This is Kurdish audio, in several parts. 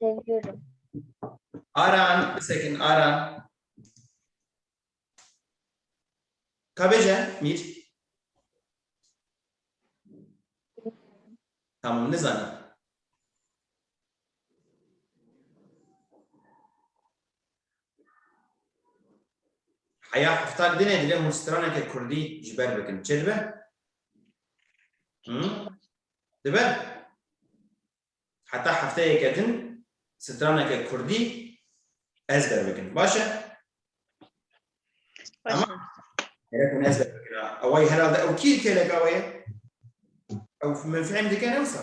Seviyorum. Aran, bir second, Aran. Kabece, Mir. Tamam, ne zannet? Haya hafta dine dile hûn straneke Kurdî ji ber bikin. Çi dibe? Dibe heta hefteyeke din straneke kurdî ez derbikin. Baş e? Tamam. Gerek hûn ez derbikin. Ew ay herhalde ew kî têleka wê ye? Ew min fêm dikin ewsa.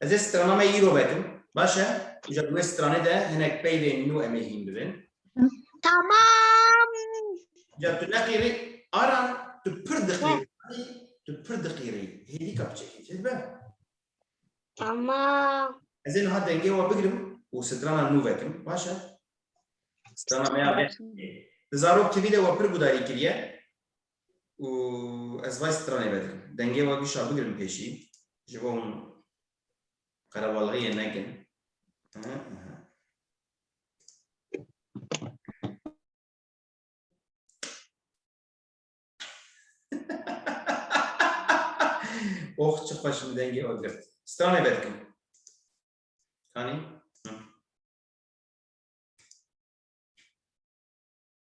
Ez ê strana me îro vekim. Baş e? Îja di wê stranê de hinek peylên nû em ê hîn bibin. Tamam. Îja tu neqîrî. Aran, tu pir diqîrî. Tu pir diqîrî. Hêdî ka biçekî. Çi dibe? Tamam. Ez ê niha dengê we bigirim û strana nû vekim. Baş e? Strana me ya vê. Di zarok tivî de we pir gudarî kiriye. û ez vay stranê vedikim. Dengê we bîşa bigirin pêşî, ji bo hûn qerebalixiyê nekin. Oh çi xweş min dengê we girt. Stranê vedikim. Kanî?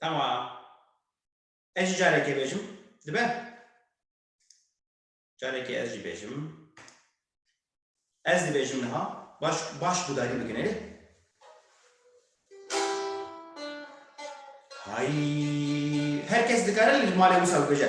Tamam. Ez jî carekê bêjim. Dibe? Carekê ez jî bêjim. Ez dibêjim niha. Baş, baş gudarî bikin erê. Hay. Herkes dikare li malê wisa bibêje.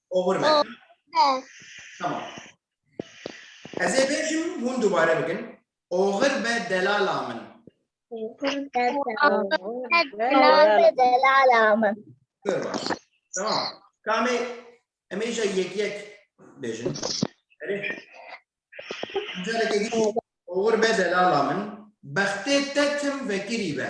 Over me. Over. Tamam. Ez ê bêjim hûn dubare bikin. Oxir be delala min. Oxir be delala min. Zor baş. Tamam. Kamê em ê jî yek yek bêjin. Erê. Careke din oxir be delala min. Bextê te tim vekirî be.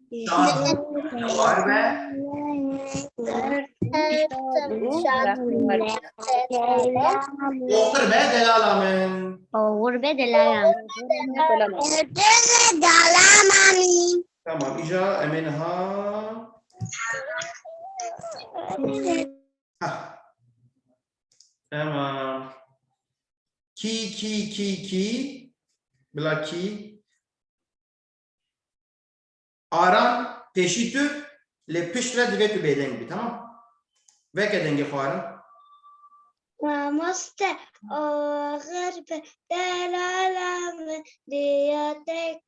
Oxir be delala min. Oğur be delalam. Tamam ica emin ha. Ha. Tamam. Ki ki ki ki. Bila ki. Aram pêşî tu lê pişt re divê tu bêdeng bî tamam. Veke dengê xwe aram. Mamoste axir bi delala min diya tek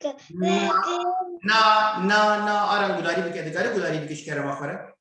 Na na na aram gudarî bike dikarî gudarî bike ji kerema xwe re.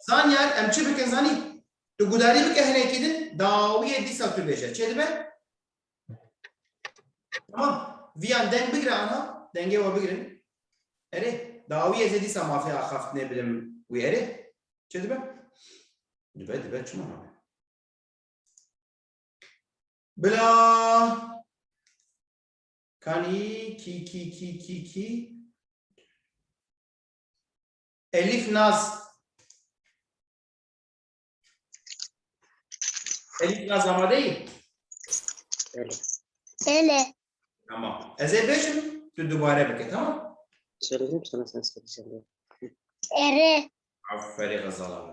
Zaniyar em çi bikin zanî? Tu gudarî bike hinekî din dawiyê dîsa tu bêje. Çê dibe? Tamam. Viyan deng bigire ana. Dengê we bigirin. Erê. Dawiyê zê dîsa mafê axaftinê bilim wî erê. Çê dibe? Dibe dibe çima nabe? Bila Kanî kî kî kî kî kî Elif Naz Elif Naz amadeyî? Ele. Tamam. Ez ê bêjim tu dubare bike tamam. Söyledim sana sen söyleyeceğim diye. Ere. Aferin Gazal abi.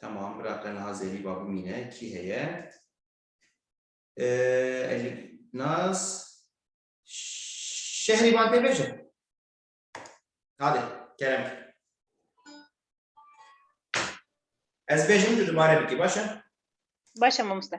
Tamam, bira te niha zêrî ba bimîne, kî heye? Elî Naz, şehrî van tê bêje. Hadi, kerem. Ez bêjim tu dubare bikî, baş e? Baş e mamoste.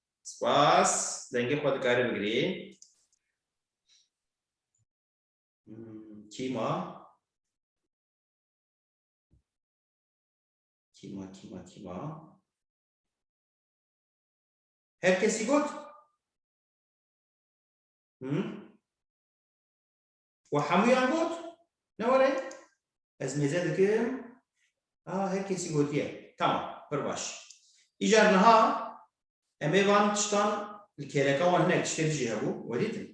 Spas. Dengê xwe dikarî bigirî. Kî ma? Kî ma, kî ma, kî ma? Her kesî got? Hı? Û hemûyan got, Ne were, ez mêze dikim, a her kesî gotiye, Tamam, pir baş. Îcar niha em ê van tiştan li kêleka wan hinek tiştê din jî hebû, we dîtin.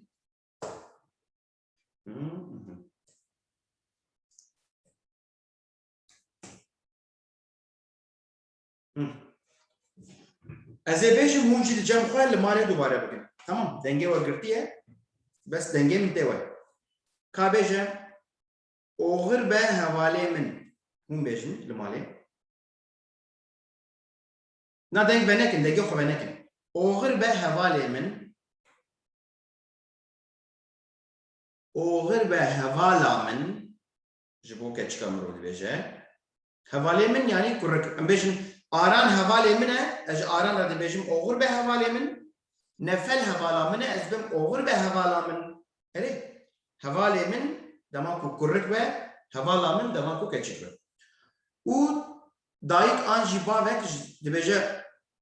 Ez ê bêjim hûn jî di cem xwe li malê dubare bikin. Tamam dengê we girtiye bes dengê min tê we. Ka bêje oxir be hevalê min hûn bêjin li malê. Na deng be nekin dengê xwe be nekin. Oxir be hevalê min oxir be hevala min ji bo keçika mirov dibêje. Hevalê min yanî kurik. Em bêjin Aran hevalê min e, ez ji Aran re dibêjim Oxur be hevalê min. Nefel hevala min e, ez dibim Oxur be hevala min. Erê, hevalê min dema ku kurik be, hevala min dema ku keçik be. Û dayik an jî bavek dibêje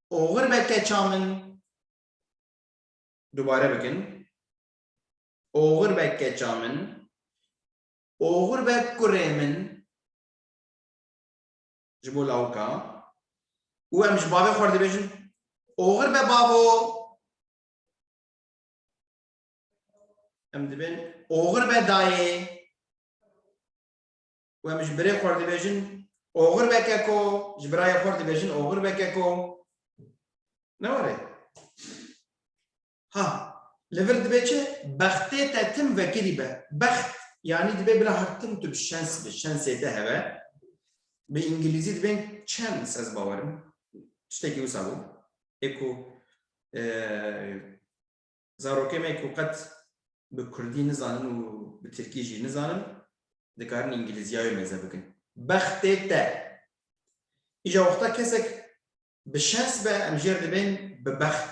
Oxur be keça min. Dubare bikin. Oxur be keça min. Oxur be kurê min. Ji bo lawika û em ji bavê xwe re dibêjin oxir be bavo. Em dibên oxir be dayê û em ji birê xwe re dibêjin oxir be keko, ji birayê xwe re dibêjin oxir be keko. Ne were. Ha, li vir dibe çi? Bextê te tim vekirî be. Bext yanî dibe bila her tim tu bi şens bi şensê te heve. Bi îngilîzî dibên chance ez bawer im. Tiştekî wisa bû. Ê ku zarokê me ku qet bi kurdî nizanin û bi tirkî jî nizanin dikarin îngilîzîya wê mêze bikin. Bextê te. Îja wexta kesek Bi şens be em jêr dibên bi bext.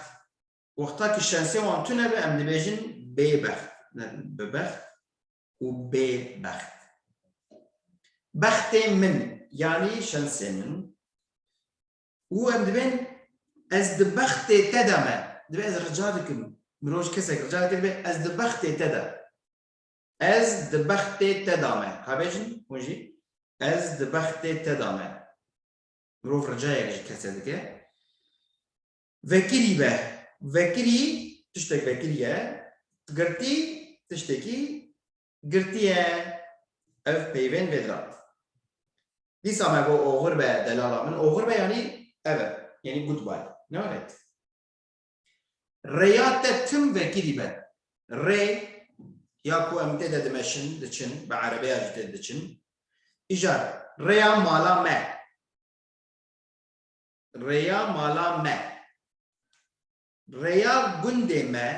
Wexta ku şensê wan tune be em dibêjin bêbext ne bi bext û bêbext. Bextê min yanî şensê min û em dibên ez di bextê te de me. Dibe ez rica dikim, mirov ji kesek rica dike dibe ez di bextê te de. Ez di bextê te de me. Ka bêjin hûn jî ez di bextê te de me. Mirov ricayek ji kesê dike. Vekirî be. Vekirî tiştek vekirî ye. Girtî tiştekî girtî ye. Ev peyvên vê dirat. Dîsa me got oxir be delala min. Oxir be yanî ev e. Yanî goodbye. Ne were? Rêya te tim vekirî be. Rê, ya ku em tê de dimeşin, diçin, bi erebeya jî tê de diçin. Îja rêya mala me. Rêya mala me. Rêya gundê me.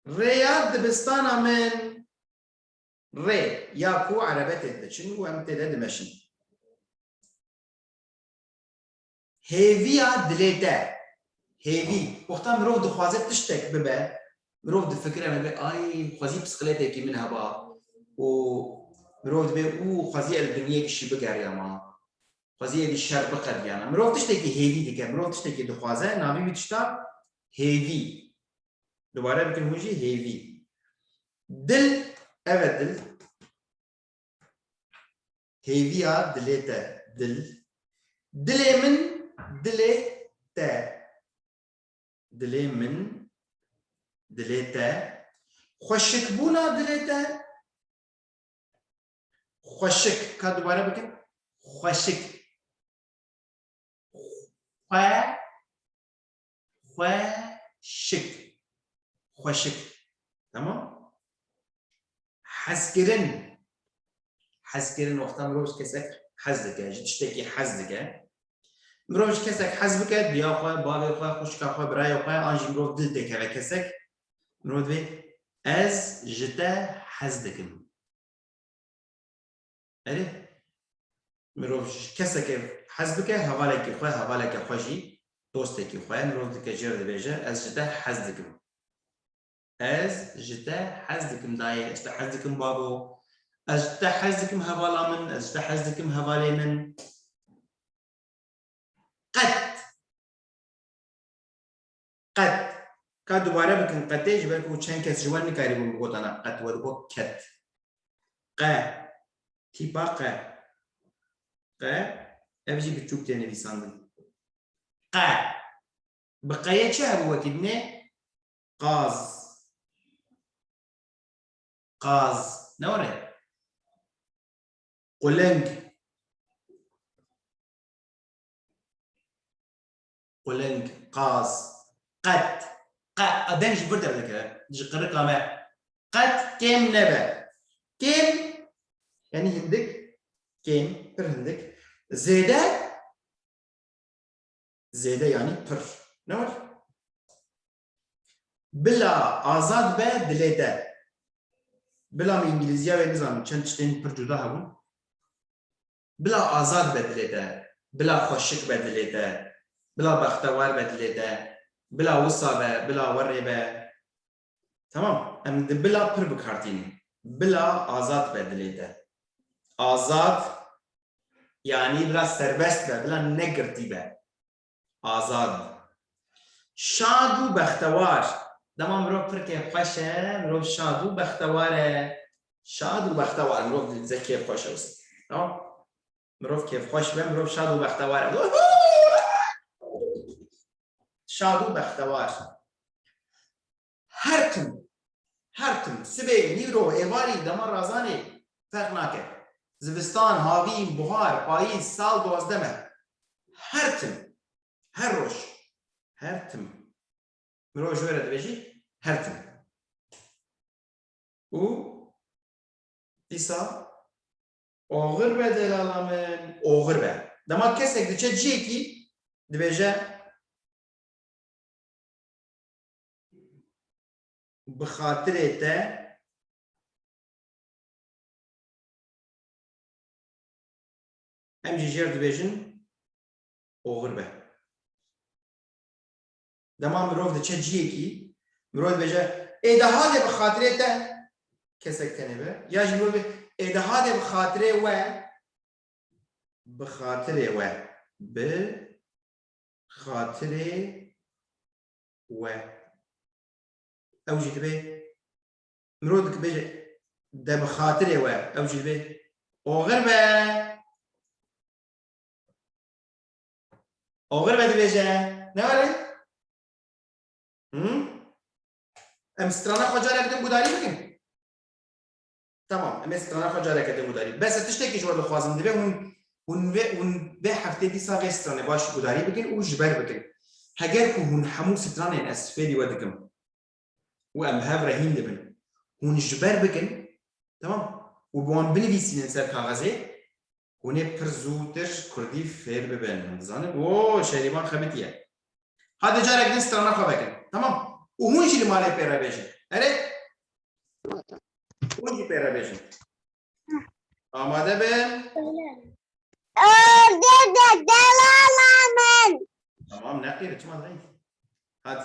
Rêya dibistana min. Rê, ya ku erebe tê de diçin û em tê de dimeşin. Hêviya dilê te. Hêvî, wexta mirov dixwaze tiştek bibe, mirov difikire me bê ay xwezî pisqilêtekî min heba û mirov dibê û xwezî ez dinyêkişî bigeriyama, xwezî êdî şer biqediyana. Mirov tiştekî hêvî dike, mirov tiştekî dixwaze, navî wî tişta hêvî. Dubare bikin hûn jî hêvî. Dil, ev e dil. Hêviya dilê te, dil. Dilê min, dilê te. Dilê min, dilê te. Xweşikbûna dilê te. Xweşik. Ka dubare bikin. Xweşik. Xwe. xweşik xweşik tamam hezkirin hezkirin wexta mirov ji kesek hez dike ji tiştekî hez dike mirov ji kesek hez bike diya xwe bavê xwe xuşka xwe birayê xwe an jî mirov dil tê keve kesek mirov divê ez ji te hez dikim Erê, mirov ji keseke hez bike, hevalekî xwe, hevaleke xwe jî, dostekî xwe, mirov dike jêr dibêje, ez ji te hez dikim. Ez ji te hez dikim dayê, ez ji te hez dikim babo, ez ji te hez dikim hevala min, ez ji te hez dikim hevalê min. Qet Qet. Ka dubare bikin qetê ji ber ku çend kes ji we nikarîbûn bi gotana qet we digot ket. Qe. Tîpa qe. Qe. Ev jî bi çûk tê nivîsandin. Qe. Bi qeyê çi hebû wekî binê? Qaz. Qaz. Ne were? Quling. quling, qaz, qet, qe a deng ji vir derdikeve, ji qirika me, qet kêm nebe. Kêm yanî hindik, kêm, pir hindik, zêde, zêde yanî pir. Ne were? Bila azad be dilê te. Bila min îngilîziya wê nizanim çend tiştên pir cuda hebûn. Bila azad be dilê te, bila xweşik be dilê te, bila bextewar be dilê te, bila wisa be, bila werê be. Tamam, em di bila pir bi kar tînin. Bila azad be dilê te. Azad yanî bila serbest be, bila negirtî be. Azad in. Şad û bextewar. Dema mirov pir kêf xweş e, mirov şad û bextewar e. Şad û bextewar. Mirov li dize kêf xweş e. No? Mirov kêf xweş be, mirov şad û bextewar e. Şad û bextewar. Her tim, her tim, sibê, nîro, êvarî, dema razanê, ferq nake. Zivistan, havîn, buhar, payîz, sal, duwazdeh meh. Her tim, her roj, her tim. Mirov ji we re dibêjî, her tim. Û dîsa oxir be delala min, oxir be. Dema kesek diçe ciyekî, dibêje, bi xatirê te em jî jêr dibêjin oxir be. Dema mirov diçe ciyekî, mirov dibêje ê de hadê bi xatirê te kesek tenê be ya jî mirov ê de hadê bi xatirê we bi xatirê we bi xatirê we. Ew jî dibe mirov dikbe jî de bi xatirê we ew jî dibe oxir be oxir be dibêje ne were em strana xwe care bikin gudarî bikin Tamam em ê strana xwe careke din gudarî. Bes ez tiştekî ji we dixwazim divê hûn hûn vê hûn vê heftê dîsa vê stranê baş gudarî bikin û ji ber bikin. Heger ku hûn hemû stranên ez fêrî we dikim û em bi hev re hîn dibin hûn ji ber bikin tamam û bi wan binivîsînin ser kaxezê Hûn ê pir zûtir kurdî fêr bibin. Hûn dizanin ku Şerîvan xebitî ye. Hadi carek din strana xwe vekin. Tamam. Û hûn jî li malê pê re bêjin. Erê? Hûn jî pê re bêjin. Amade bin. Tamam neqîre çima zayîf. Hadi.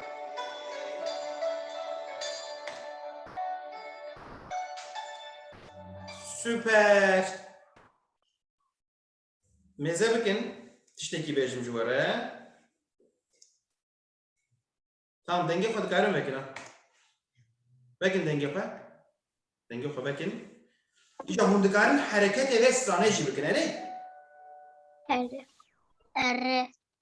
Super. Mêze bikin. Tiştekî bêjim ji we re. Tamam dengê xwe dikarin vekin ha. Vekin dengê xwe. Dengê xwe vekin. Îca hûn dikarin hereketê vê stranê jî bikin erê. Erê. Erê.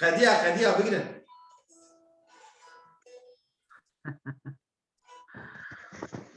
Qediya qediya bigirin.